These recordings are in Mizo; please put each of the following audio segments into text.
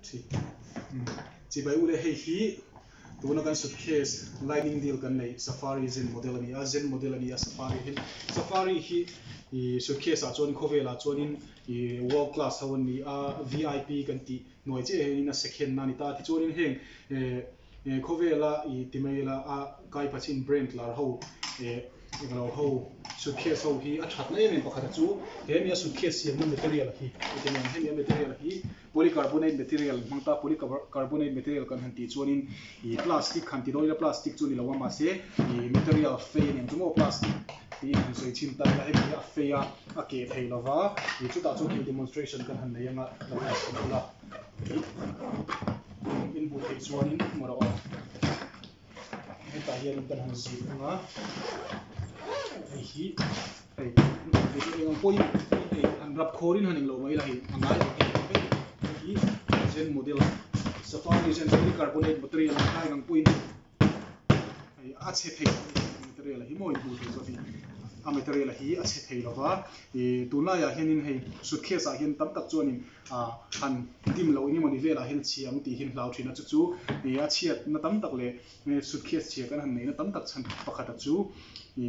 Thi. Chibai u le, hei hi tuna kan suitcase lining deal kan neih Safari zen model a ni a, zen model a ni a Safari hi, Safari hi ih suitcase ah chuan khawvelah chuanin ih world class ho an ni a, VIP kan tih hnuai chiah hian in a second a ni ta, tichuanin heng eh. E khawvela i ti mai ila a kai pachin brain tlar ho e englo ho suitcase ho hi a thatna em em pakhata chu hemi a suitcase siamna material hi i ti mai ang hemi a material hi polycarbonate material hmang ta polycarbonate material kan han tih chuanin i plastic han ti dawn ila plastic chu ni lo a mahse i material fei nen chu maw plastic tiin han sawi chhin ta ila hemi hi a fei a a keh thei lova i chutah chuan hei demonstration kan han nei anga kan han sawi bula. in buh theih chuan in mawrh a awm hetah hian in kan han zir thung a hei hi hei engvang pawhin hei han rap khawr in han eng lo mai ila hei a ngai awm em em mai a hei hi zen model safari zen polycarbonate material ang kha engvang pawhin. Hei a chhe phei loh anih hian material a hi maw inhmuh theih zawt hi a material a hi a chhe phei lo va i tunlai ah hian in hei suitcase ah hian tam tak chuan in ah han dim loh enge mawni vel ah hian chhi ang tih hi in hlau thin a chu chu i a chhiat na tam tak leh suitcase chhia kan han neih na tam tak chhan pakhat ah chu i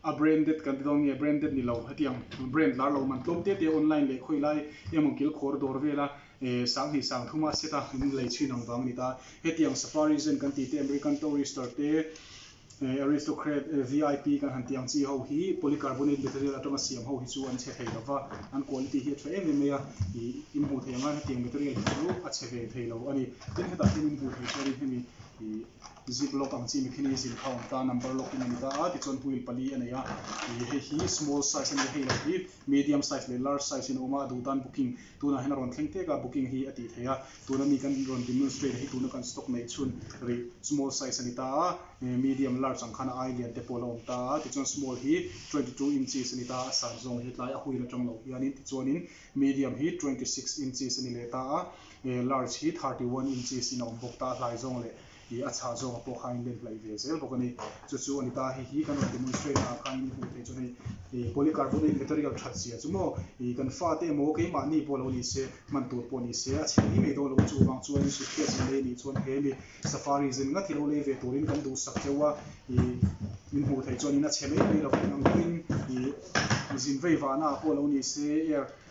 A branded kan ti dawn nge branded ni lo heti ang brand lar lo man tlawm te te online leh khawi lai emaw kil khawr dawr vela eh sang hnih sang thuma a set a in lei chhin ang vang a ni ta heti ang safari zen kan ti te American tourister te eh aristocrat eh vip kan han ti ang chi ho hi polycarbonate material atanga siam ho hi chu an chhe thei lo va an quality hi a tha em em mai a ih i hmuh theih ang a heti ang material hi chu a chhe ve thei lo a ni tin hetah hian in hmuh theih chuan in hemi ih Zip lock ang chi mikhin hi zin kha awm ta number lock in a ni ta a tichuan huil pali a nei a ih hei hi small size a ni a hei lo hi medium size leh large size in a awm a a duh tan booking tunah hian a rawn thleng tek a booking hi a tih theih a tuna mi kan rawn demonstrate a hi tuna kan stock neih chhun rih small size a ni ta a ih medium large ang khan a ai lian te pawh la awm ta a tichuan small hi twenty two inches a ni ta a a size zawng hi tlai a huil atang lo hian in tichuanin medium hi twenty six inches a ni leh ta a ih large hi thirty one inches in a awm bawk ta a hlai zawng leh Ih a chhah zawngah pawh khan in len hlaih ve zel bawk a ni. Chu chu a ni ta, hei hi kan rawn demonstrate naah khan min hmuh theih chu hei ih polycarbonate material that zia chu maw ih kan fa te emaw keimah ni pawh lo ni se, hman tur pawh ni se a chhiat hi mai dawn lo chu vang chuan suitcase in lei anih chuan he mi safari zin ngat hi lo lei ve turin kan duhsak teuh a ih min hmuh theih chuan in a chhe mai mai lo. Engtin ih zin vei vahnaah pawh lo ni se air